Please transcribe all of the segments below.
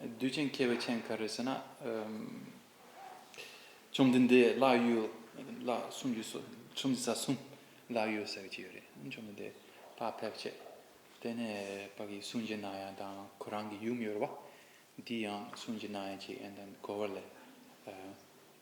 བདུད་ཅན་མཁས་པའི་མཆན་ག་རེ་ཟེར་ན། བཅོམ་ལྡན་འདས་བླ་གཡུལ་བླ་སུམ་ཅུ་སོ་སུམ་ཅུ་རྩ་གསུམ་བླ་གཡུལ་ཟེར་བ་ཅིག་ཡོད་རེད་བཅོམ་ལྡན་འདས་དག་ཕེབས་རྗེས་དེ་ནས་བདག་གིས་གསུང་བྱས་ན་ཡང་དང་ཁོ་རང་གི་ཡུམ་ཡོད་རེད་བ། འདི་ཡང་གསུང་བྱས་ན་ཡང་ཅིག་ཨན་དང་གོ་བ་ལས།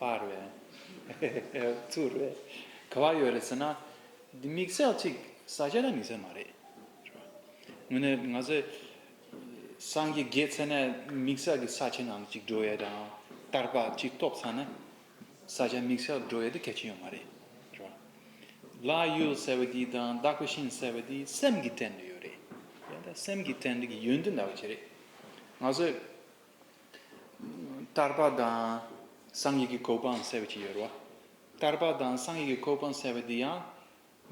པར་བས། ཚུར་བས། ག་བ་ཡོད་རེད་ཟེར་ན། འདི་དམིགས་བསལ་གཅིག་ཟ་བྱས་ན་དམིགས་བསལ་མ་རེད། ངོ་ནས་ང་ཚོས་སངས་རྒྱས་དགེ་ཚེ་ནས་དམིགས་བསལ་གྱི་ས་ཆའི་ནང་གཅིག་འགྲོ་ཡས་དང་བསྟར་པ་གཅིག་གཏོགས་ཚར་ན། ས་ཆ་དམིགས་བསལ་འགྲོ་ཡས་དེ་གལ་ཆེན་ཡོད་མ་རེད། ལ་ཡུལ་ཟེར་བ་འདི་དང་བདག་པོ་ཤིང་ཟེར་བ་འདི་སེམས་ཀྱི་དྲན་འདུན་ཡོད་རེད། སེམས་ཀྱི་དྲན་འདུན་གྱི་ཡོན་ཏན་འདྲ་བ་ཅི་རེད། ང་ཚོས། ལྟར་བ་དང། སངས་ཡིག་གི་གོ་འཕང་གསལ་བ་ཅི་ཡོད་རོ། ལྟར་བ་དང་སངས་ཡིག་གི་གོ་འཕང་གསལ་བ་འདི་ཡང།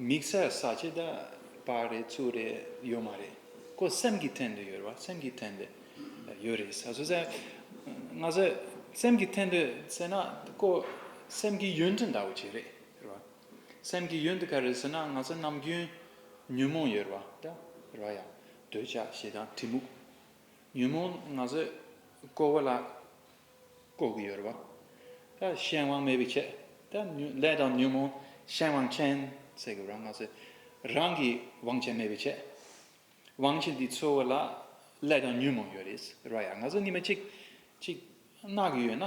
མིག་སེར་ས་ཆེ་ད་པ་རེད་ཚུལ་རེད་ཡོད་མ་རེད། ཀོ་སེམས་ཀྱི་ཐན་དུ་ཡོད་རོ་སེམས་ཀྱི་ཐན་དུ་ཡོད་རེད་ས་སོ་སེ། ང་ཚོས་སེམས་ཀྱི་ཐན་དུ་ཟེར་ན་ཀོ་སེམས་ཀྱི་ཡུན་དུ་འདའ་བ་ཅི་རེད་རོ། སེམས་ཀྱི་ཡུན་དུ་ག་རེད་ཟེར་ན་ང་ཚོ་ནམ་རྒྱུན་ཉོན་མོངས་ཡོད་རོ་ད་རོ་ཡ། འདོད་ཆགས་ཞེ་སྡང་གྲི་མུག། ཉོན་མོངས་ན་བཟོད་བསྐོ་བ་ལ་བསྐོ་གི་ཡོད་རེད་བ། ད་གཞན་དབང་མེད་པའི་ཆེད་ད་ལས་དང་ཉོན་མོངས་གཞན་དབང་ཆེན་ཟེར་གི་རང་ང་ཚོས་རང་གི་དབང་ཆེན་མེད་པའི་ཆེད། དབང་ཆེན་དེ་འཚོལ་བ་ལ་ལས་དང་ཉོན་མོངས་ཡོད་རེད་ཟེར་བ་ཡ་ང་ཚོ་གཉིས་མ་གཅིག་གཅིག་གནང་གི་ཡོད་ན།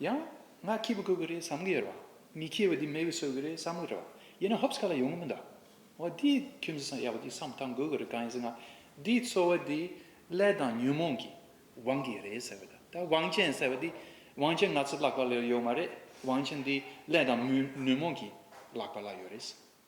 ཡང། ང་ཁྱེད་བུ་གོ་གི་རེད་བསམ་གི་ཡོད་རེད་བ། མི་ཁྱེད་བུ་འདི་མེ་བུ་གསོད་གི་རེད་བསམ་གི་རེད་བ། ཡིན་ནའང་ཧོབས་ཁ་ལ་ཡོང་གི་མི་འདུག་བ། འདིའི་ཁྱིམ་གཟུགས་སམ་གཡག་པོ་འདིའི་བསམ་སྟངས་དགོས་གི་རེད་གང་ཡིན་ཟེར་ན། འདིའི་འཚོ་བ་འདི་ལས་དང་ཉོན་མོངས་ཀྱིས་བང་གི་རེད་ཟེར་བ་དང། ད་བང་ཆེན་ཟེར་བ་འདི་བང་ཆེན་ང་ཚོས་བརླག་པ་ལ་ཡོད་མ་རེད། བང་ཆེན་འདི་ལས་དང་ཉོན་མོངས་ཀྱིས་བརླག་པ་ལ་ཡོད་རེད།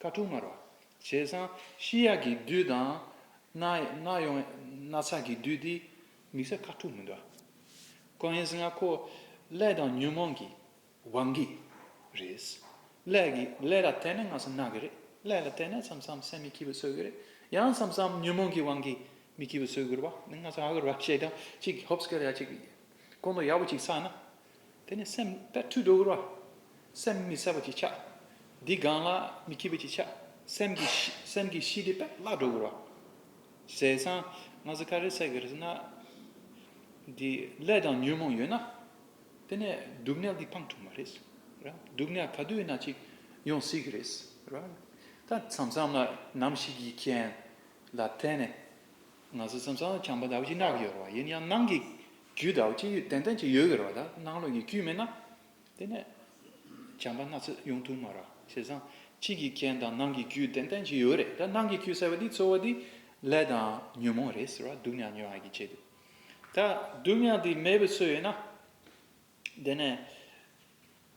ཁ་ཐུག་མར་བ། བྱས་ཙང་ཤི་ཡག་གི་དུས་དང། ནག་ཡོང་ན་ཚ་གི་དུས་དེ། མི་ཟ་ཁ་ཐུག་མི་འདྲ། ཀོ་ཡེན་སྔ་ཁོ་ཀླད་དང་ཉོན་མོངས་ཀྱི། བང་གི། རེད། ཀླད་ཀྱི་ཀླད་ལ་དད་ན་སྔ་སེ་ནག་གི་རེད། ཀླད་ལ་དད་ན་མཚམས་མཚམས་སེམས་མི་སྐྱིད་པོ་ཚོད་གི་རེད། ཡང་མཚམས་མཚམས་ཉོན་མོངས་ཀྱི་བང་གི་མི་སྐྱིད་པོ་ཚོད་གི་རེད་བ། ནི་སྔ་ས་ཧ་གི་རེད་བ། བྱས་ཙང་གཅིག་ཧོབ་སྐལ་ཡག་གཅིག། ཀོང་དོ་ཡག་པོ་གཅིག་ཚགས་ན། དེ་ནི་སེམས་དཔའ་ཁྲུས་དྲུག་རོ། སེམས་མི་གསལ་བ་གྱིས་ཆགས། འདི་གང་ལ་མི་སྐྱིད་པ་གྱིས་ཆགས། སེམས་ཀྱི་སེམས་ཀྱི་ཤི་དེ་པདྨ་དྲུག་རོ། ཟས་གཙང། ང་ཟ་ཁ་རེ་བསྲེག་རེ་ཟ་ན། འདི་ཀླད་དང་ཉོན་མོངས་ཡོད་ན། དེ་ནས་སྡུག་བསྔལ་འདི་འཕང་འཁྲུགས་མ་རེད། སྡུག་བསྔལ་ག་དུས་ན་ཅིག་ཡོང་སྲིད་ཀྱི་རེད། ད་མཚམས་མཚམས་ལ་ནམ་ཞིག་གི་རྐྱེན་ལ་བརྟེན་ནས། ང་ཚོ་མཚམས་མཚམས་ལ་བྱམས་པ་འདའ་བ་ཞིག་གནང་གི་ཡོད་རེད། ཡིན་ཡང་ནང་གི་རྒྱུད་དག་ཅི་ཡོད་ཏན་ཏན་གྱི་ཡོད་གེར་བ་དག་སྣང་ལུགས་ཀྱི་རྒྱུད་མེད་ན། དེ་ནས། བྱམས་པ་སྣ་ཚོགས་ཡུངས་ཐུང་མ་ར་ཞེས་བཟང། དཔྱིད་ཀྱི་རྐྱེན་དང་ནང་གི་རྒྱུད་ཏན་ཏན་གྱི་ཡོད་རེད་ད་ནང་གི་རྒྱུད་ཟེར་བ་འདི་འཚོ་བ་འདི་ལས་དང་ཉོན་མོངས་རེད་ཟེར་བ་སྡུག་ཉག་ཉོན་ཨ་ཀྱི་བྱེད་དུ། ད་སྡུག་ཉག་འདི་མེད་པའི་ཚོད་ཡོད་ན། དེ་ནས།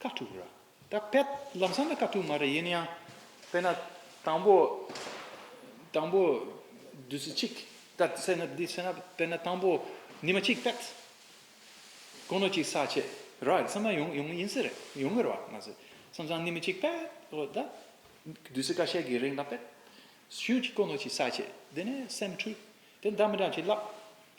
དཀའ་ཐུབ་ར། ད་ཕེབས་ལབ་བསམ་ན་དཀའ་ཐུབ་མ་རེད་ཡིན་ན་ཡང་དཔེར་ན། དང་པོ། དང་པོ། བདུད་རྩི་གཅིག་ལྟར་བསྲེས་ན་འདི་བསྲེས་ན་དཔེར་ན་དང་པོ། ཉི་མ་གཅིག་བསྟད། དཀོན་ནོར་གཅིག་ཟག་བྱས་ར་ཡིན་བསམ་ན་ཡོང་ཡོང་ཡིན་སྲིད་རེད་ཡོང་གི་ར་མ་ཟད། སང་ཙང་ནི་མི་གཅིག་བསྟད། ཨོ་ད། བདུད་རྩི་ཀ་ཤས་ཀྱི་རིང་ལ་བསྟད། ཤུན་གཅིག་དཀོན་ནོར་གཅིག་ཟག་བྱས་འདི་ནས་སེམས་འཁྲུལ། དེ་ལྟར་མི་དྲག་བྱས་བརླག།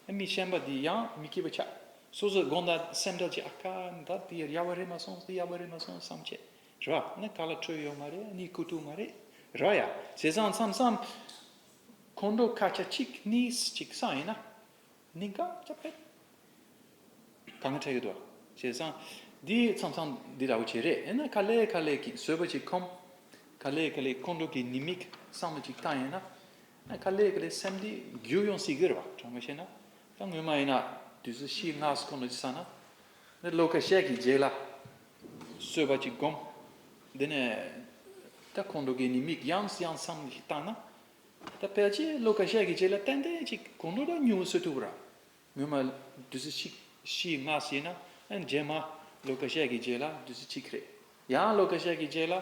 ཨེ་མི་ཤན་པ་འདི་ཡང་མི་སྐྱིད་པ་ཆགས། སོ་སོའི་དགོངས་དག་སེམས་དགྲ་བྱས་ཨ་ཀ། ད་དེ་ཡག་པ་རེད་མ་སོང་དེ་ཡག་པ་རེད་མ་སོང་བསམ་བྱས། ར་ནི་ག་ལ་འཕྲོད་ཡོད་མ་རེད་ནི་ཁུ་ཐུག་མ་རེད། ར་ཡ། ཟས་བཟང་མཚམས་བསམ། ཁོང་ཁྲོ་ཁ་ཆ་ཅིག་ནི་ཅིག་སང་ཡིན་ན། ནི་འགག་སྐྱབས་ཕེབས། ག་ང་འཕྲད་ཡོད་དོ། ཟས་བཟང། འདི་མཚམས་བསམ་འདི་ར་བོ་ཆེ་རེད་ཨེ་ན་ཁ་ལས་ཁ་ལས་ཀྱིས་བཟོས་པ་ཅིག་ཁོམ། ཁ་ལས་ཁ་ལས་ཁོང་ཁྲོ་གི་ནི་མིག་བསམ་བ་ཅིག་ཐང་ཡིན་ན། ད་ག་ལེར་ག་ལེར་སེམས་འདི་རྒྱུག་ཡོང་སྲིད་གི་རེད་བ་དྲང་མོ་བཤད་ན་ད་སྔོན་མ་ཡིན་ན་དུས་ཚོད་ཕྱིས་སྔགས་སུ་གོ་ནོ་ཅི་ས་ན་འདི་བློ་ཁ་ཤས་ཀྱིས་འཇལ་ལ་གསོལ་བ་ཅིག་བསྒོམ། དེ་ནས་ད་ཁོང་ཁྲོ་གི་ནི་མིག་ཡངས་སུ་ཡངས་སམ་ཞིག་བཏང་ན་ད་ཕལ་ཆེར་བློ་ཁ་ཤས་ཀྱིས་འཇལ་ལ་ཏན་ཏན་ཅིག་ཁོང་ཁྲོ་ལ་མྱུར་བ་གསོད་ཐུབ་ར་སྔོན་མ་དུས་ཚོད་ཕྱིས་ཕྱིས་སྔགས་སུ་ཡིན་ན་འཇལ་མ་བློ་ཁ་ཤས་ཀྱིས་འཇལ་ལ་དུས་ཚོད་ཕྱིས་ཁ་རེད་ཡང་བློ་ཁ་ཤས་ཀྱིས་འཇལ་ལ་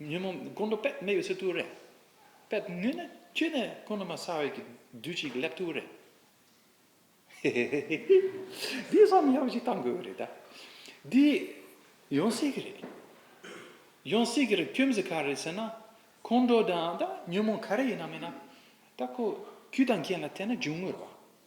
ཉོན་མོངས་ཀུན་དུ་པདྨའི་ཡོད་ཚད་ཐུགས་རེ། པདྨ་ནུས་ནས་ཁྱོད་ནི་ཀུན་དུ་མ་ཚང་བའི་བདུད་ཅིག་སླེབས་ཐུགས་རེ། འདི་བསམ་མི་ཡག་པོ་ཞིག་བཏང་དགོས་རེད་ད། འདི་ཡོང་སྲིད་གི་རེད། ཡོང་སྲིད་གི་རེད་ཁྱོད་མི་ཚེ་ག་རེད་ཟེར་ན། ཁོང་ཁྲོ་དང་ད་ཉོན་མོངས་ག་རེ་ཡིན་ན་མིན་ན། ད་ཁོ་བརྒྱུད་དང་རྒྱན་ལ་བལྟས་ན་འབྱུང་ངོ་རེད་བ།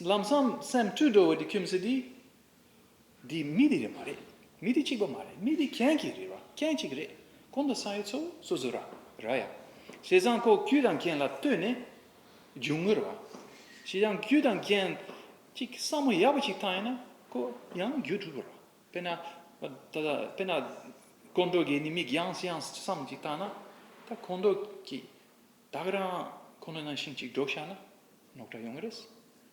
ལམ་སང་སེམས་འཁྲུལ་འགྲོ་བའི་དེ་ཁྱིམ་སེ་དེ། དེ་མི་དེ་རེད་མ་རེད་མི་དེ་གཅིག་པ་མ་རེད་མི་དེ་ཁྱེད་ཀྱི་རེད་བ་ཁྱེད་གཅིག་རེད་གོང་དུ་སང་ཡོད་ཚོ་སོ་སོ་ར་ར་ཡ། བྱས་ཙང་ཁོ་རྒྱུད་དང་རྒྱན་ལ་ལྟོས་ནས་རྒྱུ་ངོ་རེད་བ། བྱས་ཙང་རྒྱུད་དང་རྒྱན་གཅིག་བསམ་བློ་ཡག་པོ་གཅིག་བཏང་ཡོད་ན་ཁོ་ཡང་རྒྱུད་གྲུབ་བོ་ར། དཔེར་ན་དཀོན་མཆོག་གིས་ནི་མིག་ཡངས་ཡངས་བསམ་གཅིག་བཏང་ན་ད་ཁོང་ཁྲོ་གི། བདག་རང་ཁོ་ན་ན་ཤིང་གཅིག་སྒྲོག་བཞག་ན་ནོག་ཁྲ་ཡོང་གི་རེད།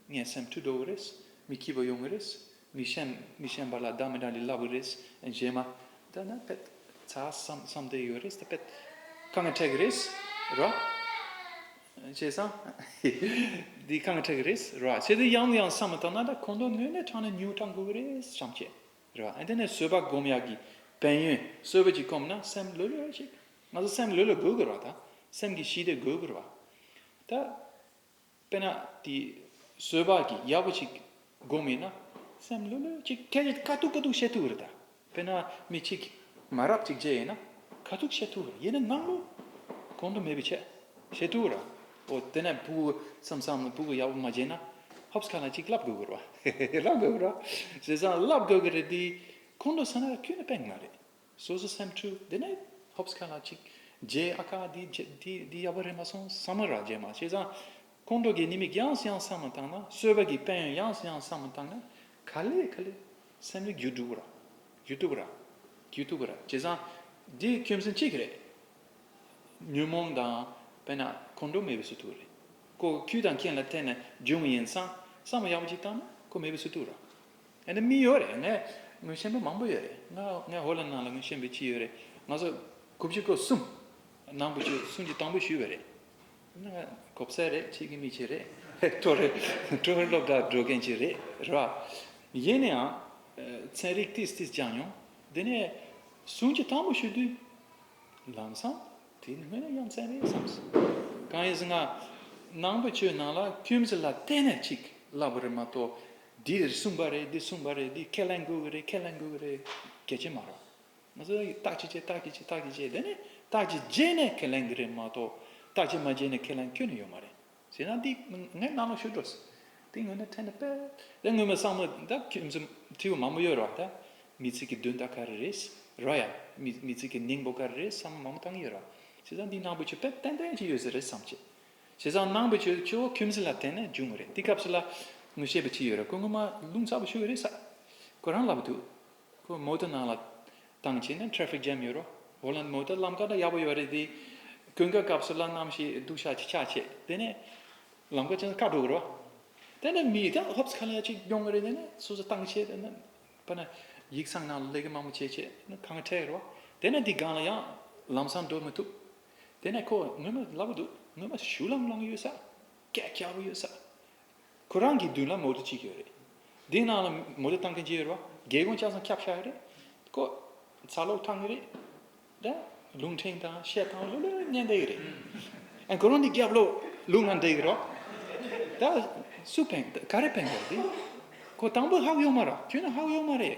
ངའི་སེམས་འཁྲུག་འགྲོ་གི་རེད། མི་སྐྱིད་པོ་ཡོང་གི་རེད། མི་གཞན་མི་གཞན་པ་ལ་བདག་མི་འདྲ་འདི་ལབ་གི་རེད། རྗེས་མ། འདི་ན་བེད་ཚ་བསམ་བསམ་དེ་ཡོད་རེད། བེད་ཁ་ངས་ཁྲལ་གི་རེད། ར། བྱས་ཙང། འདི་ཁ་ངས་ཁྲལ་གི་རེད། ར། བྱས་དེ་ཡང་ཡང་བསམ་མ་ཐག་ན་ད་ཁོང་དོན་སྣོད་ནས་དྲངས་ནས་ཉུང་དྲག་འགུལ་གི་རེད་བྱམས་ཆེ། ར། དེ་ནས་བཟོད་པ་སྒོམ་ཡག་གི་བན་ཡོན་གསོལ་བ་ཅིག་སྐོམ་ན་སེམས་ལོས་ལོས་ཤིག། ང་ཚོ་སེམས་ལུས་ལ་དགོས་དགོས་ར་ད། སེམས་ཀྱི་ཞི་བདེ་དགོས་དགོས་ར་ད། དཔེར་ན་དེ་བཟོད་པ་གྱི་ཡག་པོ་ཞིག་དགོས་མེད་ན། སེམས་ལུས་ལུས་ཅིག་སྐད་ཅིག་དཀའ་ཐུག་དཀའ་ཐུག་བཤད་ཐུབ་ར་ད། དཔེར་ན་མི་གཅིག་མ་རབས་གཅིག་བརྗེད་ཡིན་ན་དཀའ་ཐུག་བཤད་ཐུབ་ར་ཡིན་ན་ནང་ལུས་གོང་དུ་མེད་པའི་ཆད་བཤད་ཐུབ་ར་ཨོ་དེ་ནས་བུ་གུ་བསམ་བསམ་ལ་བུ་གུ་ཡག་པོ་མ་བརྗེད་ན་ཧོབ་ཁ་ན་ཅིག་བསླབ་དགོས་དགོས་ར་ཧེ་ཧེ་བསླབ་དགོས་དགོས་ར་བཟོད་བསམ་བསླབ་དགོས་དགོས་རེད་དེ་གོང་དུ་ས་ན་ཁྱོད་ནི་དཔེ་མ་རེད། སོ་སོ་སེམས་འཁྲུལ་དེ་ནས་ཧོབས་ཁ་ན་གཅིག་རྗེས་ཨ་ཁ་འདི་འདི་ཡག་པོ་རེད་མ་སོང་བསམ་མོ་ར་རྗེས་མ་བྱས་ཙང་ཁོང་ཁྲོ་གི་ནི་མིག་ཡངས་སུ་ཡང་བསམ་མ་བཏང་ན་གསོད་པ་གི་དཔལ་ཡོན་ཡངས་སུ་ཡང་བསམ་མ་བཏང་ན་ག་ལེ་ག་ལེ་སེམས་ནི་རྒྱུ་དྲུག་ར་རྒྱུ་དྲུག་ར་རྒྱུ་དྲུག་ར་བྱས་ཙང་འདི་ཁྱིམ་སེམས་གཅིག་རེད་ཉོན་མོངས་དང་དཔེར་ན་ཁོང་ཁྲོ་མེད་པའི་ཟུ་དུག་རེད་ཀོ་ཁྱུ་དང་ཁྱེད་ལ་ཐད་ནས་འབྱུང་ཡིན་ཙང་བསམ་མོ་ཡག་པོ་གཅིག་བཏང་ན་ཁོ་མེད་པའི་ཟུ་དུག་ར། ཨ་ནི་མི་ཡོད་རེད་ངས་ངོས་ཤེས་མེད་མང་པོ་ཡོད་རེད་ང་ངས་ཧོ་ལ་ནང་ལ་ངོས་ཤེས་མེད་ཅི་ཡོད་རེད་ང་ཚོ་དགུ་བཅུ་གོ་གསུམ་ནང་དགུ་བཅུ་གསུམ་གྱི་དང་པོ་ཞུས་པ་རེད་ང་གོ་བསད་རེད་ཁྱེད་ཀྱི་མི་ཁྱེད་རེད་ཀྲོ་རེད་ཀྲོ་ཧོར་སློབ་གྲྭ་འགྲོ་མཁན་ཁྱེད་རེད་རེད་པ་ཡིན་ན་ཡང་ཚན་རིག་ཏིས་ཏིས་སྦྱངས་མྱོང་དེ་ནས་གསུམ་གྱི་དང་པོ་ཞུས་དུས་ལམ་སང་དེ་ནི་ངོས་ནས་ཡ་མཚན་རེད་བསམས་སོང་གང་ཡིན་ཟེར་ན་ནང་དགུ་བཅུ་ནང་ལ་ཁྱིམ་གཞི་ལ་བལྟས་ནས་ཅིག་བསླབས་པ་རེད་མ་གཏོགས་འདིས་གསུངས་པ་རེད་འདིས་གསུངས་པ་རེད་འདིས་ཁས་ལེན་དགོས་ཀྱི་རེད་ཁས་ལེན་དགོས་ཀྱི་རེད་གལ་ཆེན་མ་རེད། ང་ཚོ་བརྟག་དཔྱད་བྱས་བརྟག་དཔྱད་བྱས་བརྟག་དཔྱད་བྱས་དེ་ནས་བརྟག་དཔྱད་རྗེས་ནས་ཁས་ལེན་གྱི་རེད་མ་གཏོགས་བརྟག་དཔྱད་མ་བྱས་ནས་ཁས་ལེན་ཁྱོན་ནས་ཡོད་མ་རེད། ཟེར་ན་འདི་ངའི་རྣ་ལོག་ཤོར་འགྲོ་སྲིད། དེ་ངོས་ནས་ཕྲན་ནས་དཔེ་རེ་ངོ་མ་བསམ་མོ་ད་ཁྱོད་ཚོ་ཐེ་བོ་མང་པོ་ཡོད་རོགས་ད་མི་ཚིག་གི་དོན་དག་ག་རེ་རེད་རོགས་ཡ། མི་ཚིག་གི་གནས་འབོ་ག་རེ་རེད་བསམ་མོ་མང་པོ་བཏང་གི་ཡོད་རོགས། བྱས་ཙང་འདི་ནང་པོ་ཆོས་དཔེ་ཏན་ཏན་ཅིག་ཡོད་ས་རེད་བསམ་བྱས། བྱས་ཙང་ནང་པའི་ཆོས་སྤྱི་བོ་ཁྱིམ་སེམས་ལ་བརྟེན་ནས་འབྱུང་བ་རེད་དེ་སྐབས་སུ་ལ་ངོ་ཤེས་པ་ཅི་ཡོད་རེད་ཁོ་ངོ་མ་རླུང་ཚ་བོ་ཤོར་བ་རེད་ས་ཁོ་རང་ལབ་འདུག་ཁོ་མོ་ཏོ་ནང་ལ་བཏང་བྱས་ནས traffic jam ཡོད་རོ་ཧོ་ལན་མོ་ཏོ་ལམ་ཀ་འདྲ་ཡག་པོ་ཡོད་རེད་དེ་ཀུན་དགའ་སྐབས་སུ་ལ་ནམ་ཞིག་སྡུག་ཤ་ཅིག་ཆག་བྱས་དེ་ནས་ལམ་ཀ་ཅན་དཀའ་འགྲོ་གི་རོ་དེ་ནས་མི་དེ་སློབ་ས་ཁ་ལ་ཅིག་ཡོང་གི་རེད་དེ་ནས་སོ་སོ་བཏང་བྱས་དེ་ནས་པ་ན་ཡིག་ཚང་ནང་ལ་ལས་ཀ་མང་པོ་བྱས་བྱས་ནས་གང་བྲལ་གི་རོ་དེ་ནས་དེ་སྒང་ལ་ཡང་ལམ་སང་འགྲོ་མི་ཐུབ། དེ་ནས་ཁོ་སྔོན་མ་སླ་བོ་འདུག་སྔོན་མ་ཞུ་ལང་ལང་ཡོད་ས། སྐད་སྐྱ་བོ་ཡོད་ས། ཁོ་རང་གི་མདུན་ལ་མོ་ཏོ་གཅིག་ཡོད་རེད། དེའི་ནང་ལ་མོ་ཏོ་བཏང་མཁན་གཅིག་ཡོད་རེད། རྒྱལ་ཀོང་ལྕགས་ཟམ་འཁྱགས་ཤ་རེད། ཁོ་ཚ་ལོག་ཐང་གི་རེད། ད་ལུང་ཕྲན་དང་བཤད་ཐང་ལོ་ལོ་ལོ་ནས་འདེགས་རེད། ཁོ་རང་འདི་རྒྱབ་ལོག་ལུང་ལ་འདེགས་རོགས། ད་སུ་ཕན་ག་རེ་ཕན་དགོས་རེད། ཁོ་དང་པོ་ཧག་ཡོད་མ་རེད། ཁྱོད་ནི་ཧག་ཡོད་མ་རེད།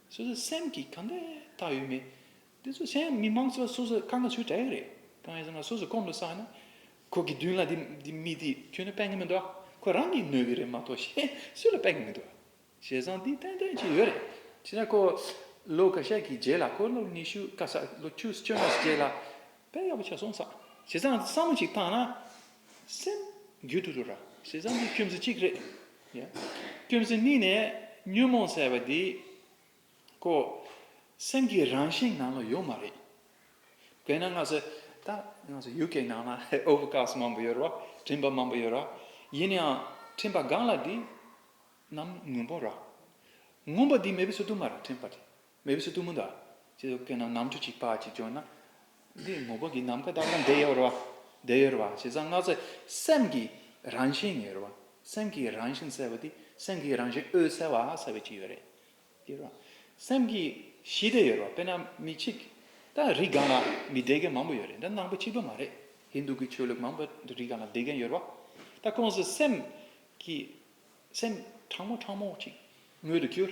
སོ་སོའི་སེམས་ཀྱི་གང་འདྲ་ཐག་ཡོད་མེད། དེ་ཚོ་གཞན་མི་མང་ཚོ་སོ་སོ་གང་ག་ཚོའི་དྲ་ཡག་རེད། གང་ཡག་ཟེར་ན་སོ་སོ་གོམས་ལ་བསམ་ཡོད་ན། ཁོ་གི་མདུན་ལ་དེ་དེ་མི་དེ་ཁྱོད་ལ་དཔེ་ངེས་མི་འདུག་ཨ། ཁོ་རང་གིས་ནོར་གི་རེད་མ་གཏོགས་གཞན་སུ་ལ་དཔེ་ངེས་མི་འདུག་ཨ། བྱས་ཙང་དེ་ཏན་ཏན་གྱི་ཡོད་རེད། ཁྱེད་རང་ཁོ་ལོ་ག་ཤས་ཀྱི་རྗེས་ལ་ཁོ་ལོ་ཉི་ཤུ་ཀ་ས་ལོ་བཅུ་བཅོ་ལྔ་ས་རྗེས་ལ་དཔེ་ཡག་པོ་ཆགས་སོང་ས། བྱས་ཙང་བསམ་བློ་ཅིག་བཏང་ན། སེམས། རྒྱུད་དུ་འགྲོ། ཞེ་སྡང་འདི་ཁྱིམ་སེ་གཅིག་རེད། ཁྱིམ་སེ་གཉིས་ནས་ཉོན་མོངས་བསལ་བ་འདི། ཁོ། སེམས་ཀྱི་རང་བཞིན་ནང་ལ་ཡོད་མ་རེད། དེས་ན་སྔར་སེ། ད། སྔར་སེ་ཡུལ་གྱི་ནང་ན་ཨོ་བྷུ་ཀཱས་མང་པོ་ཡོད་ར། ཕྲིན་པ་མང་པོ་ཡོད་ར། ཡིན་ཡང། ཕྲིན་པ་གང་ལ་འདི། རྣམས་མངོན་པོ་ར། མངོན་པ་འདི་མེད་པའི་ཚུལ་དུ་མ་རེད་ཕྲིན་པ་འདི། མེ་བསྲེགས་གཏུམ་མོ་དང། ཅེས་སོགས་བཀོད་ན་ནམ་ཆུ་གཅིག་ཕག་གཅིག་བྱོན་ན། འདིའི་ངོ་བོ་འདི་ནམ་མཁའ་ལྟར་ན་འདི་ཡོད་རེད་བ། འདི་ཡོད་རེད་བ་ཞེས་གསང་སྔགས་ཚེ་སེམས་ཀྱི་རང་བཞིན་ཡོད་རེད་བ། སེམས་ཀྱི་རང་བཞིན་གསལ་བ་འདི་སེམས་ཀྱི་རང་བཞིན་འོད་གསལ་བ་གསལ་བའི་གཅིག་ཡོད་རེད། ཡོད་རེད་བ། སེམས་ཀྱི་གཞི་དེ་ཡོད་རེད་བ་དཔེར་ན་མི་གཅིག་དང་རི་སྒང་ལ་མི་བདེ་མཁན་མང་པོ་ཡོད་རེད་འདི་ནང་པ་གཅིག་པ་མ་རེད་ཧིན་དུ་གི་ཆོས་ལུགས་མང་པོ་རི་སྒང་ལ་བདེ་མཁན་ཡོད་རེད་བ། ད་ཁོང་ཚོས་སེམས་ཀྱི་སེམས་གྲང་མོ་གྲང་མོ་གཅིག་དངོས་དུ་གྱུར།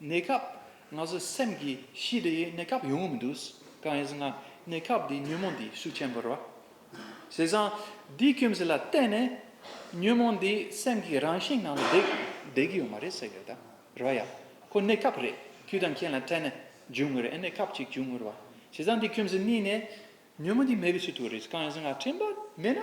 གནས་སྐབས་ང་ཚོའི་སེམས་ཀྱི་གཤིས་དེ་གནས་སྐབས་ཡོང་གི་མི་འདུག་གང་ཡིན་ཟེར་ན་གནས་སྐབས་འདིའི་ཉོན་མོངས་འདི་ཤུགས་ཆེན་པོ་རེད། བྱས་ཙང་འདིའི་སྐྱོན་ཟེར་ལ་བརྟེན་ནས་ཉོན་མོངས་འདི་སེམས་ཀྱི་རང་བཞིན་ནང་དུ་བསྡད་ཀྱི་ཡོད་མ་རེད་ཟེར་ཡོད། རོལ་ཡ། ཁོ་གནས་སྐབས་རེད་ཁྱོད་དང་ཁྱེད་ལ་འཕྲད་ནས་འབྱུང་ངེས་རེད་གནས་སྐབས་ཅིག་འབྱུང་ངེས་རེད། བྱས་ཙང་འདིའི་སྐྱོན་ཟེར་གཉིས་ནས་ཉོན་མོངས་འདི་མེད་པའི་ཚུལ་དུ་རེད། གང་ཡིན་ཟེར་ན་དྲན་པ་མེད་ན།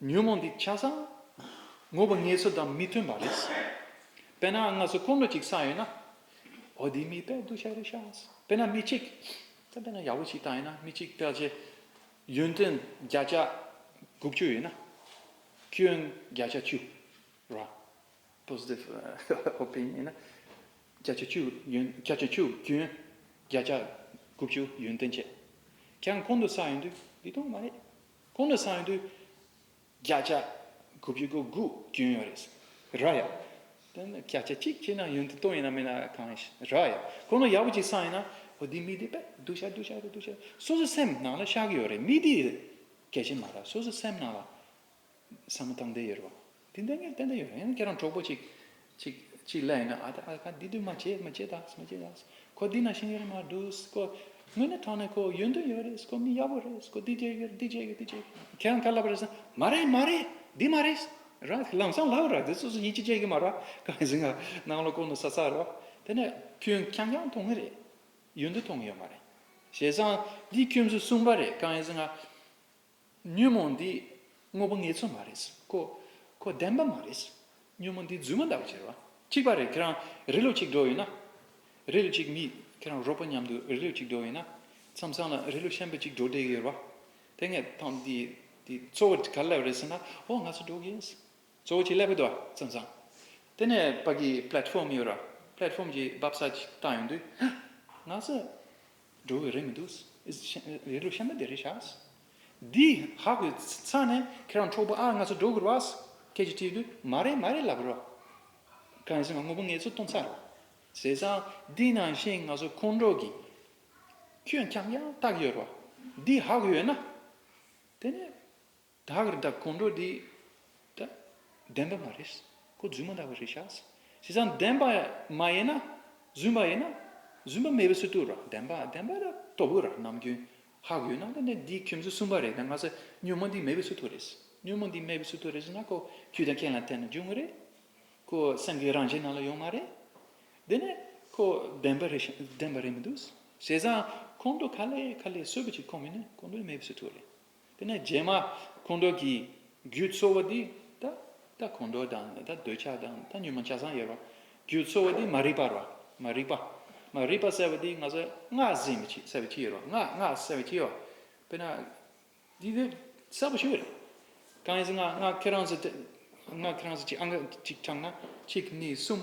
ཉོན་མོངས་འདི་ཆགས་སམ། ངོ་བོ་ངལ་གསོ་དང་མི་མཐུན་པ་རེད། དཔེར་ན་སྔ་སོར་ཀུན་སློང་གཅིག་བསགས་ཡོད་ན། འོ་འདི་མི་དཔལ་གདུལ་བྱ་རེད་ཤག། དཔེར་ན་མི་གཅིག་དཔལ་དཔེར་ན་ཡག་པོ་ཞིག་བཏགས་ཡོད་ན་མི་གཅིག་དཔལ་གྱི་ཡོན་ཏན་བརྒྱ་ཆ་དགུ་བཅུ་ཡོད་ན། སྐྱོན་བརྒྱ་ཆ་བཅུ། Positive Opinion ཡོད་ན། བརྒྱ་ཆ་བཅུ་ཡོན་བརྒྱ་ཆ་བཅུ་སྐྱོན་བརྒྱ་ཆ་དགུ་བཅུ་ཡོན་ཏན་བྱས་ཀྱང་ཁོང་དུ་བསགས་ཡོད་དུས་འདི་དོན་མ་རེད། ཁོང་ལ་སངས་ཡོད་དུ། བརྒྱ་ཆ་དགུ་བཅུ་གོ་དགུ་སྐྱོན་ཡོད་རེད། ར་ཡ། དེ་ནི་བརྒྱ་ཆ་གཅིག་ཁྱེད་རང་ཡོན་དུ་བཏོན་ཡིན་ན་མིན་ན་གང་ཡིན། ར་ཡ། ཁོང་ལ་ཡག་པོ་གཅིག་སངས་ཡིན་ན། ཨོ་འདི་མི་འདི་པད་བདུག་བྱ་བདུག་བྱ་རེད་བདུག་བྱ་རེད། སོ་སོ་སེམས་ནང་ལ་ཤག་ཡོད་རེད་མི་འདི་གལ་ཆེན་མ་ར་སོ་སོ་སེམས་ནང་ལ། བསམ་བློ་བཏང་བསྡད་ཡོད་རེད་བ། དེ་འདྲ་ངས་བསྟན་ད་ཡོད་རེད་ཡང་ཁྱེད་རང་གྲོགས་པོ་གཅིག་གཅིག་གཅིག་ལས་ན་ཨ་ད་ཨ་ཁ་འདི་དུས་མ་བྱེད་མ་བྱེད་ད་མ་བྱེད་ད་ཁོ་འདི་ན་ཤེས་ཡོད་རེད་མ་འདུག་ཁོ་དངོས་གནས་དྲང་ནས་ཁོ་ཡོད་འདོད་ཡོད་རེད་ཁོ་མི་ཡག་པོ་རེད་ཁོ་འདི་བྱེད་ཀྱི་འདི་བྱེད་ཀྱི་འདི་བྱེད་ཀྱི་ཁྱེད་རང་ཁ་ལབ་རེད་ས་མ་རེད་མ་རེད་འདི་མ་རེད་ར་ལམ་སང་ལབ་ར་འདི་སོ་སོ་ཡིད་ཆེས་བྱེད་ཀྱི་མ་ར་ཁ་ཟིག་ང་གནམ་ལོ་ཀོང་ནས་ས་ཚགས་ར་དེ་ནས་ཁྱོད་རྐྱང་རྐྱང་མཐོང་གི་རེད་ཡོད་འདོད་མཐོང་གི་ཡོད་མ་རེད་བྱས་ཙང་འདི་ཁྱོད་ཚོས་གསུངས་པ་རེད་ཁ་ཟིག་ང་ཉོན་མོངས་འདི་དངོས་པོ་ངེས་ཚོད་མ་རེད། ཁོ། ཁོ་བདེན་པ་མ་རེད། ཉོན་མོངས་འདི་རྫུན་མ་འདྲ་བོ་ཟེར་བ། གཅིག་པ་རེད་ཁྱེད་རང་རི་ལུ་གཅིག་འགྲོ་ཡོད་ན། རི་ལུ་གཅིག་མིས་ཁྱེད་རང་རོགས་པོ་མཉམ་དུ་རི་ལུ་གཅིག་འགྲོ་ཡོད་ན། མཚམས་མཚམས་ལ་རི་ལུ་ཤན་པ་གཅིག་འགྲོ་བསྡད་ཀྱི་ཡོད་རེད་པ། དེ་སྔའི་ཐང་འདི་འདི་གཙོ་བོ་ག་ལ་སླེབས་རེད་ཟེར་ན་ཨོ་ང་ཚོ་འགྲོ་གི་ཡིན། གཙོ་བོ་གཅིག་སླེབས་ཀྱི་འདུག་བ་མཚམས་མཚམས། དེ་ནས་བར་གྱི Platform ཡོད་རེད་བ། Platform གྱི་འབབ་ས་གཅིག་བཏང་ཡོད་དུས། ང་ཚོ། འགྲོ་བའི་རེ་མི་འདུག། རེ་ལོ་ཤ་མི་བདེ་རེ་ཤ། འདི་ཧ་གོ་ས་ནས་ཁྱེད་རང་འཕྲོག་པོ་ཨ་ང་ཚོ་འགྲོ་དགོས་རེད་བ། ཁྱེད་ཀྱི་དྲིས་ལུས་མ་རེད་མ་རེད་ལབ་རོགས། གང་ཟེར་ང་དངོས་པོ་ངེད་ཚོ་སྟོང་ཚར་རེད། ཟེར་སའང་འདི་ནང་བཞིན་ང་ཚོ་ཁོང་འགྲོ་གི། ཁྱོད་ཁྱམས་ཡང་ལྟ་གི་ཡོད་རེད་བ། འདི་ཧ་གོ་ཡོད་ན། དེ་ནས། བདག་གིར་བདག་གོང་འགྲོ་འདི། བདེན་པ་མ་རེད། ཁོ་རྫུན་མ་འདྲ་བ་རེད་ཤག། བྱས་ཙང་བདེན་པ་མ་ཡིན་ན། རྫུན་པ་ཡིན་ན། རྫུན་པ་མེད་པའི་ཚུལ་དུ་ར་བདེན་པ་བདེན་པ་ར་སྟོབས་ཡོད་ར་ནམ་རྒྱུན་ཧག་ཡོད་ན་དེ་ནས་འདིའི་ཁྱིམ་སུ་གསུམ་པ་རེད་ད་ང་ཚ་སྨྱོན་མ་འདི་མེད་པའི་ཚུལ་དུ་རེད། སྨྱོན་མ་འདི་མེད་པའི་ཚུལ་དུ་རེད་ཟེར་ན་ཁོ་ཁྱོད་དང་ཁྱེད་ལ་བལྟས་ན་འཇུག་ངེས་རེད། ཁོ་སེམས་ཀྱི་རང་བཞིན་ནང་ལ་ཡོད་མ་རེད། དེ་ནས་ཁོ་བདེན་པ་རེད་བདེན་པ་རེད་མི་འདུག་བྱས་ཙང་གོང་འགྲོ་ག་ལས་ག་ལས་གསོད་པ་ཅིག་ཁོ་མིན་ན་གོང་འགྲོ་མེད་པའི་ཚུལ་དུ་རེད། དེ་ནས་རྗེས་མ་ཁོང་ཁྲོ་གྱི་རྒྱུ་ཚོར་བ་དེ་ད་ཁོང་ཁྲོ་དང་ད་འདོད་ཆགས་དང་ད་ཉོན་མོངས་ཆགས་སྡང་ཡོད་པ་རྒྱུ་ཚོར་བ་དེ་མ་རིག་པ་རོ། མ་རིག་པ། མ་རིག་པ་བསལ་བ་དེ་ང་ཚོས་སྔགས་གཟིགས་མི་བྱེད་བསལ་བའི་ཕྱིར་རོ། སྔགས་སྔགས་བསལ་བའི་ཕྱིར་རོ། དཔེར་ན། འདི་འདི་གསལ་པོ་ཞིག་རེད། གང་ཡིན་ཟེར་ན་སྔགས་ཁྱེད་རང་ཚོ་སྔགས་ཁྱེད་རང་ཚོ་གཅིག་ཨང་གཅིག་དྲངས་ན་གཅིག་གཉིས་གསུམ།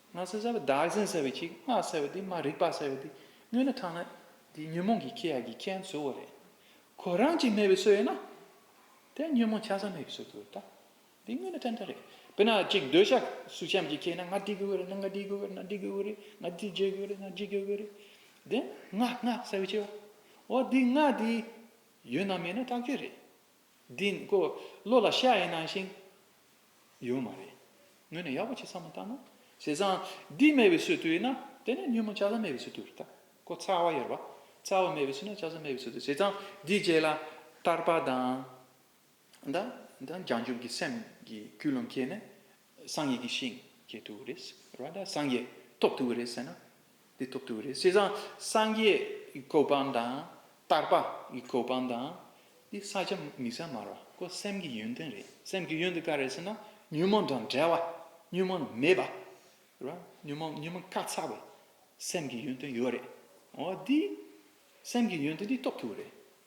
སྔགས་སེལ་བྱ་བ་བདག་འཛིན་སེལ་བའི་ཁྱེད་ཀྱི་སྔགས་སེལ་བ་དེ་མ་རིག་པ་སེལ་བ་དེ་སྨྱོས་ན་ཐང་ན་དེ་ཉོན་མོངས་ཀྱི་ཁྱེད་ཡ་གྱི་ཁྱེད་འཚོལ་བ་རེད། ཁོ་རང་གཅིག་མེད་པའི་སྲོལ་ཡོད་ན། དེ་ཉོན་མོངས་ཆ་ཚང་མེད་པའི་སྲོལ་དུ་རེད་ད། དེ་སྨྱོས་ན་ཐན་ཐུན་རེད། དཔེར་ན་གཅིག་འདོད་ཆགས་སུ་ཤམ་གྱི་ཁྱེད་ན་ང་འདི་དགོས་རེད་ན་ང་འདི་དགོས་རེད་ན་འདི་དགོས་རེད་ང་འདི་བརྗེ་དགོས་རེད་ན་འདི་བརྗེ་དགོས་རེད། དེ་སྔགས་སྔགས་སེལ་བའི་ཁྱེད་བ། འོ་དེ་སྔགས་དེ་ཡོད་ན་མེད་ན་ཐག་ཆོད་རེད། འདི་ནི་འཁོར་ལོ་ལ་ཤ་ཡི་ནང་བཞིན། ཡོད་མ་རེད། ངོས་ནས་ཡག་པོ་བྱས་ཚར་མ་ཐག་ན། བྱས་ཙང་འདི་སྨྲས་པའི་ཚུལ་དུ་ཡིན་ན། དེ་ནས་ཉོན་མོངས་བྱ་བཟའ་སྨྲས་པའི་ཚུལ་དུ་བལྟ། ཁོ་ཚ་བ་ཡོད་པ། ཚ་བ་སྨྲས་པའི་ཚུལ་ན་བྱ་བཟའ་སྨྲས་པའི་ཚུལ་དུ་བྱས་ཙང་འདིའི་རྗེས་ལ། ཐར་པ་དང། ལྗང་འཇུག་གི་སེམས་ཀྱི་རྒྱུད་ལ་མཁས་ནས། སངས་རྒྱས་ཀྱི་ཞིང་སྐྱེ་ཐུབ་ཀྱི་རེད། ར་ད་སངས་རྒྱས་ཐོབ་ཐུབ་ཀྱི་རེད་ཟེར་ན་འདི་ཐོབ་ཐུབ་ཀྱི་རེད། བྱས་ཙང་སངས་རྒྱས་ཀྱི་གོ་འཕང་དང་ཏར་པ་ཀྱི་གོ་འཕང་དང་འདི་ས་ཆ་མི་ས་མར་བ་ཀོ་སེམས་ཀྱི་ཡོན་ཏན་རེད་སེམས་ཀྱི་ཡོན་ཏན་ག་རེད་ཟེར་ན་ཉོན་མོངས་དང་བྲལ་བ་ཉོན་མོངས་མེད་པ་ར་ཉོན་མོངས་ཉོན་མོངས་ཀ་ཚ་བའི་སེམས་ཀྱི་ཡོན་ཏན་ཡོད་རེད་འོ་འདི་སེམས་ཀྱི་ཡོན་ཏན་འདི་ཐོབ་ཐུབ་ཀྱི་རེད།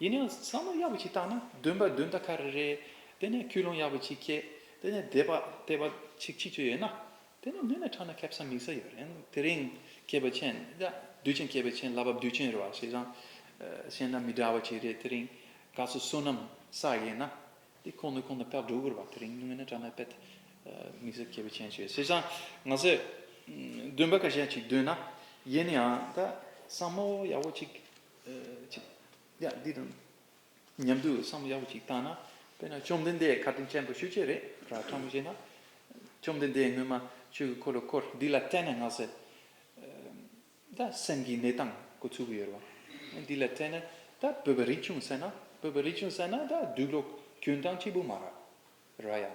ཡིན་ཡང་བསམ་བློ་ཡག་པོ་ཞིག་བཏང་ན་འདོན་པ་འདོན་ད་ག་རེ་རེད། དེ་ནས་ཁྱུ་ལུང་ཡག་པོ་ཅིག་སྐྱེས། དེ་ནས་དད་པ་དད་པ་ཅིག་ཅིག་ཅིག་ཡོད་ན། དེ་ནས་མི་ནི་ཕྲ་ན་ཁེབས་སམ་མིག་ས་ཡོད་རན། དེ་རིང་སྐྱེས་པ་ཆེན། དུས་ཆེན་སྐྱེས་པ་ཆེན་ལ་བབ་དུས་ཆེན་རེད་བ་བྱས་ཙང། གཞན་ལ་མི་འདྲ་བ་ཅིག་རེད་དེ་རིང། ག་ཚོད་བསོད་ནམས་བསགས་ཡས་ན། དེ་ཁོང་ནི་ཁོང་ནི་དཔལ་འབྲོག་གུར་བ་དེ་རིང་མི་ནི་ཕྲ་ན་དཔལ། མིག་ས་སྐྱེས་པ་ཆེན་ཞེས་བྱས་ཙང། ང་ཚོས་འདོན་པ་ག་ཞེ་ཅིག་འདོན་ན། ཡིན་ཡང་ད་བསམ་བློ་ཡག་པོ་ཅིག་ཡང་འདི་དང་མཉམ་དུ་བསམ་བློ་ཡག་པོ་ཞིག་བཏང་ན་དཔེར་ན་བཅོམ་ལྡན་འདས་ཁ་དོན་ཆེན་པོ་ཤོད་ཀྱི་རེད་ར་ཕྲ་མོ་བྱས་ན། བཅོམ་ལྡན་འདས་སྔོན་མ་ཆོས་ཀྱི་འཁོར་ལོ་སྐོར་འདི་ལ་བལྟས་ན་ངག་ཟེར། ད་སེམས་ཀྱི་གནས་སྟངས་གོ་ཚུགས་ཡོད་རེད་བ། འདི་ལ་བལྟས་ན་ད་བོད་པ་རིག་བྱུང་ཟེར་ན་བོད་པ་རིག་བྱུང་ཟེར་ན་ད་སྡུག་ལོག་གྱོན་སྟངས་སྐྱིད་པོ་མ་ར་ར་ཡ།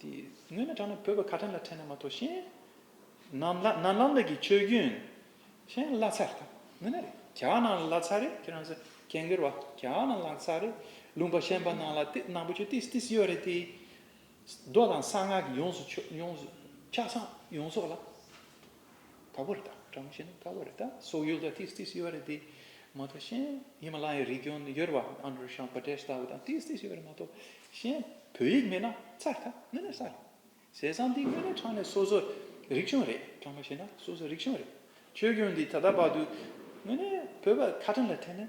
དེ་སྔོན་ན་དྲག་ན་བོད་པ་ཁ་ཁྲམ་ལ་ཁྲེལ་ན་མ་གཏོགས་ཤེས། ནམ་ལྷ་ནམ་ལྷ་འདི་གི་ཆོས་རྒྱུན། ཤེས་བླ་ཚ་རེད་དམ་མིན་ན་རེད་གྱ་ནང་ལ་ལྷ་ཚ་རེད་ཁྱེད་རང་ཚོ་ཁྱེད་འགེར་བ་གྱ་ནང་ལྷག་ཚ་རེད་ལུང་པ་ཤན་པ་ནང་ལ་ཏི་ནང་པོ་ཆོས་ཏིས་ཏིས་ཡོད་རེད་དེ། རྡོ་དང་གསང་སྔགས་ཀྱི་ཡོངས་སུ་ཆོས་ཡོངས་སུ་ཁྱ་སང་ཡོངས་སོགས་ལ། དག་པོ་རེད་ད་བཀྲ་མོ་ཤེས་ན་དགའ་བོ་རེད་ད་སོག་ཡུལ་དུ་ཏིས་ཏིས་ཡོད་པ་རེད་དེ་མ་གཏོགས་གཞན་ཧི་མ་ལ་ཡའི་རི་ཀོན་ཡོད་རེད་པ་ཨནྡྲུ་ཤཱམ་པ་ཏེས་ལྟ་བུ་དང་ཏིས་ཏིས་ཡོད་པ་རེད་མ་གཏོགས་གཞན་བོད་ཡིག་མེད་ན་ཚར་རེད་ད་དངོས་གནས་ཚར་རེད་ཟས་བཟང་འདི་དངོས་གནས་ཁྲག་ནས་སོ་སོ་རིག་གཞུང་རེད་བཀྲ་མོ་ཤེས་ན་སོ་སོ་རིག་གཞུང་རེད་ཆོས་གཞུང་འདི་ད་ལྟ་བར་དུ་དངོས་གནས་བོད་པ་ཁ་བྲལ་ལ་ཐེ་ནས།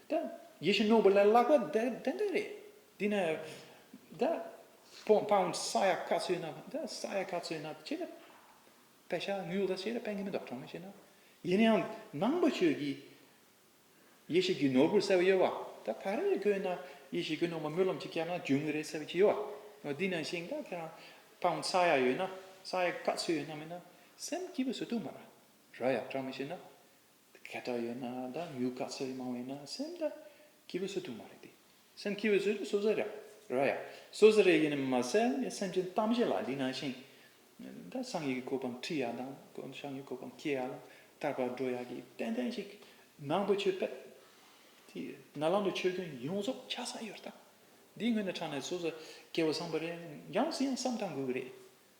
ད། ཡེ་ཤེས་རྣོན་པོ་ལ་བརླག་པ་འདི་འདྲ་རེད། དེ་ནས། ད། སྤོང་སྤང་ས་ཡ་ག་ཚོད་ན། ད་ས་ཡ་ག་ཚོད་ན་ཅེས་ན། བད་ཤ་ངུས་ལ་ཅེས་ན་བད་ངན་མི་འདོགས་གྲང་མོ་ཅེས་ན། ཡིན་ན་ཡང་ནང་པ་ཆོས་ཀྱི། ཡེ་ཤེས་ཀྱི་ནོར་བུར་གསལ་བ་ཡོད་བ། ད་ད་རེས་བཀོད་ན། ཡེ་ཤེས་ཀྱི་སྣོན་པ་སྨོན་ལམ་གྱིས་བསྐྱལ་ན་འབྱུང་གི་རེད་གསལ་བ་ཅི་ཡོད་བ། དེ་ནང་བཞིན་ད་ཁྱེད་རང། སྤང་ས་ཡ་ཡོད་ན། ས་ཡ་ག་ཚོད་ཡོད་ན་མིན་ན། སེམས་སྐྱིད་པོ་བཟོ་ཐུབ་མ་ར། ར་ཡ་གྲང་མོ་ཅེས་ན། ག་དག་ཡོད་ན་ད་ཉུག་དཀའ་ཚེགས་མང་བས་ན་སེམས་ད་སྐྱིད་པོ་བཟོ་ཐུབ་མ་རེད་དེ་སེམས་སྐྱིད་པོ་བཟོ་རྒྱུ་སོ་སོ་རེད་ར་ཡ་སོ་སོ་རེད་ཡིན་མ་ཟད་ངའི་སེམས་ཀྱི་གཏམ་བཤད་ལ་འདི་ན་ཞིང་ད་སངས་ཡིག་གི་གོ་ཕམ་ཁྲིད་ཡ་དང་ཤངས་ཡིག་གོ་ཕམ་སྐྱེལ་ཡ་ལ་སྐར་པ་འགྲོ་ཡ་གི་ཏན་ཏན་ཞིག་ནང་པའི་ཆོས་པད་དེ་ན་ལམ་དུ་ཆོས་སྐྱོན་ཡོངས་རྫོགས་ཆགས་ས་ཡོད་རྟ་འདི་ངོས་ནས་ཕྲག་ནས་སོ་སོ་སྐྱེ་བོ་བཟང་པོ་རེད་འགྱངས་ཟིན་ཡང་བསམ་དང་དགོས་གི་རེད་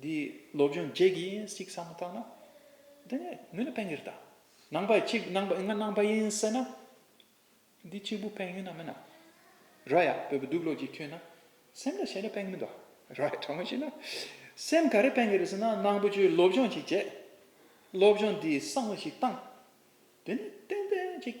འདི་སློབ་སྦྱོང་རྗེས་ཀྱི་ཡིན་གཅིག་བསམ་བཏང་ན། དེ་ནས་མི་ལ་ཕན་གྱི་རེད་ད། ནང་པ་གཅིག་ནང་པ་ང་ནང་པ་ཡིན་ཟེར་ན། འདི་གཅིག་པུ་ཕན་ཡོད་ན་མིན་ན། ར་ཡ་བོད་པའི་སྡུག་ལོ་གཅིག་ཁྱོད་ན། སེམས་ལ་བྱས་ན་ཕན་གྱི་མིན་ད། ར་ཡ་དྲང་མོ་ཤེས་ན། སེམས་ག་རེ་ཕན་གྱི་རེད་ཟེར་ན་ནང་པ་ཆུའི་སློབ་སྦྱོང་གཅིག་བྱས། སློབ་སྦྱོང་འདི་བསམ་བློ་ཞིག་བཏང། དེ་ནས་ཏན་ཏན་གཅིག།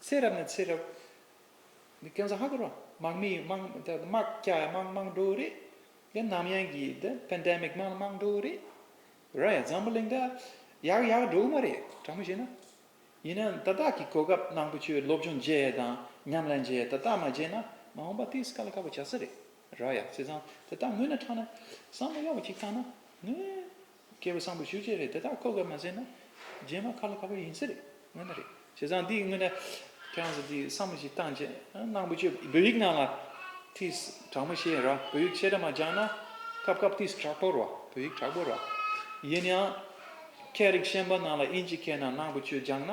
ཚེ་རབས་ནས་ཚེ་རབས། འདི་ཀན་སུ་ཧ་གོ་རོ། དམག་མི་ཡིས་དམག་དེ་དམག་སྐྱ་ཡིས་དམག་དམག་འགྲོ་རེད། དེ་ནམ་ཡང་གི་དེ Pandemic དམག་དམག་འགྲོ་རེད། ར་ཡ་འཛམ་བུ་གླིང་འདི་ཡག་ཡག་འགྲོ་གི་མ་རེད་དྲང་མོ་བཤད་ན། ཡིན་ན་ད་དག་གི་གོ་སྐབས་ནང་དུ་ཁྱོད་སློབ་སྦྱོང་བརྗེས་དང་ཉམས་ལེན་བརྗེས་ད་དག་མ་བརྗེས་ན་མ་འོངས་པ་དེ་སྐ་ལ་ཁ་བོ་བྱ་ས་རེད་ར་ཡ་བྱས་ཙང་དེ་དག་ངོས་ནས་དྲང་ན་བསམ་བློ་ཡག་པོ་གཅིག་བཏང་ན་ངོས། མཁས་པ་བཟང་པོ་ཤུགས་ཆེ་རེད་དེ་དག་ཁོ་ག་མ་བྱས་ན་རྗེས་མ་ཁ་ལོ་ཁ་བ་ཡིན་ས་རེད་དངོས་ན་རེད་བྱས་ཙང་འདིའི་དངོས་ན་ཁྱེད་རང་ཚོ་འདི་བསམ་བློ་ཞིག་བཏང་རྗེས་ནང་པོ་ཆོས་བོད་ཡིག་ནང་ལ་ཐིས་དྲག་མོ་བཤད་ར་བོད་ཡིག་ཆེ་དྲག་མ་སྦྱང་ན་སྐབས་སྐབས་ཐིས་དྲག་པོ་ར་བོད་ཡིག་དྲག་པོ་ར་ཡིན་ཡང་ཁྱེད་རིགས་ཤན་པ་ནང་ལ་དབྱིན་ཇི་མཁས་ན་ནང་པོ་ཆོས་སྦྱང་ན།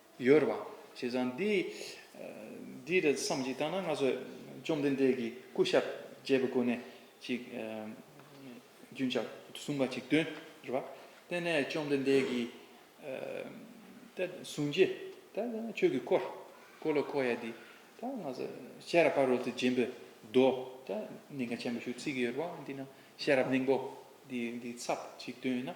ཡོད་རེད་བ། བྱས་ཙང་འདི། འདི་རེད་བསམ་གཞིག་བཏང་ན་ང་ཚོས་བཅོམ་ལྡན་འདས་ཀྱི་སྐུ་ཞབས་ཅེས་པའི་སྒོ་ནས་ཅིག། རྒྱུན་ཆགས་གསུང་པ་ཅིག་སྟོན་རེད་བ། དེ་ནས་བཅོམ་ལྡན་འདས་ཀྱིས། ད་གསུང་རྗེས་ད་ཁྱོད་ཀྱིས་བསྐོར། བསྐོར་ལ་བསྐོར་ཡ་དེ། ད་ང་ཚོས་ཤེས་རབ་ཕ་རོལ་ཏུ་འབྱིན་པའི་མདོ། ད་གནད་འགག་ཆེན་པོ་ཞུ་ཚིག་གི་ཡོད་རེད་བ། འདི་ན་ཤེས་རབ་སྙིང་པོ་འདི་འདི་ཚབ་ཅིག་སྟོན་ཡིན་ན།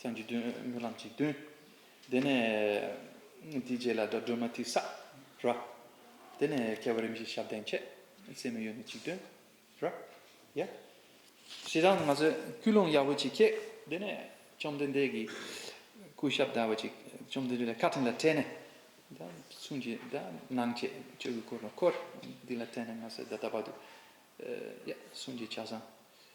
སེམས་ཀྱི་དོན་སྨོན་ལམ་གྱི་དོན། དེ་ནས་དེའི་རྗེས་ལ་དགྲ་སྒྲོལ་མ་ཐིག་ས་ར། དེ་ནས་ཁྱད་པར་རིམ་བཞིན་ཞབས་བརྟན་ཁྱད་བསད་མི་གཡོ་ནི་གཅིག་དོན་ར། ཡ། ཞེ་སྡང་མ་བཟོད་སྐུལ་སློང་ཡག་པོ་བྱེད་ཁྱེད། དེ་ནས་བཅོམ་ལྡན་འདས་ཀྱི་སྐུ་ཞབས་བདལ་བ་ཅིག་བཅོམ་ལྡན་འདས་ལ་བཀའ་དྲིན་ལ་བྲེལ་ནས། མཚུངས་ཀྱི་སྣང་བཅས་ཆོས་ཀྱི་སྐུར་ནོ་འཁོར། འདི་ལ་བྲེལ་ནས་མ་བཟོད་བདག་ལྟ་བ་དུ། ཡ། གསུང་གི་ཕྱག་བཟང།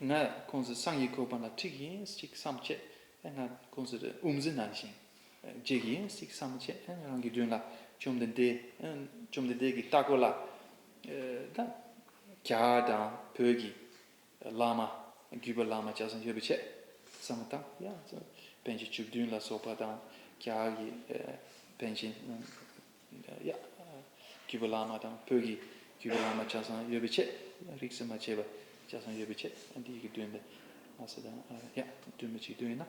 ང་ཁོང་ཚོའི་སང་ཡིག་ཁོ་པ་ན་ཁྲིག་ཡིན་ཞིག་བསམ་བྱེད་ཨེ་ང་ཁོང་ཚོ་རེ་འུམ་ཟི་ནང་ཞིང་འཇིག་ཡིན་ཞིག་བསམ་བྱེད་ཨེ་རང་གི་དྲུང་ལ་བཅོམ་ལྡན་འདས་བཅོམ་ལྡན་འདས་ཀྱི་ལྟ་སྐོར་ལ་ད་རྒྱ་དང་བོད་ཀྱི་བླ་མ་བརྒྱུད་པ་བླ་མ་བྱ་བཟང་ཡོད་པའི་ཆེད་བསམ་མི་དང་ཡ་བན་གྱི་བཅུ་བདུན་ལ་སོགས་པ་དང་རྒྱ་གི་བན་གྱི་རྒྱུད་པ་བླ་མ་དང་བོད་ཀྱི་རྒྱུད་པ་བླ་མ་ཆ་ཚང་ཡོད་པའི་ཆེད་རིགས་སུ་མ་ཆད་པ་ཆ་ཚང་ཡོད་པའི་ཆེད་འདི་ཡི་གེ་བདུན་དང་ལྷ་ས་དང་བདུན་མི་གཅིག་བདུན་ཡིན་ན།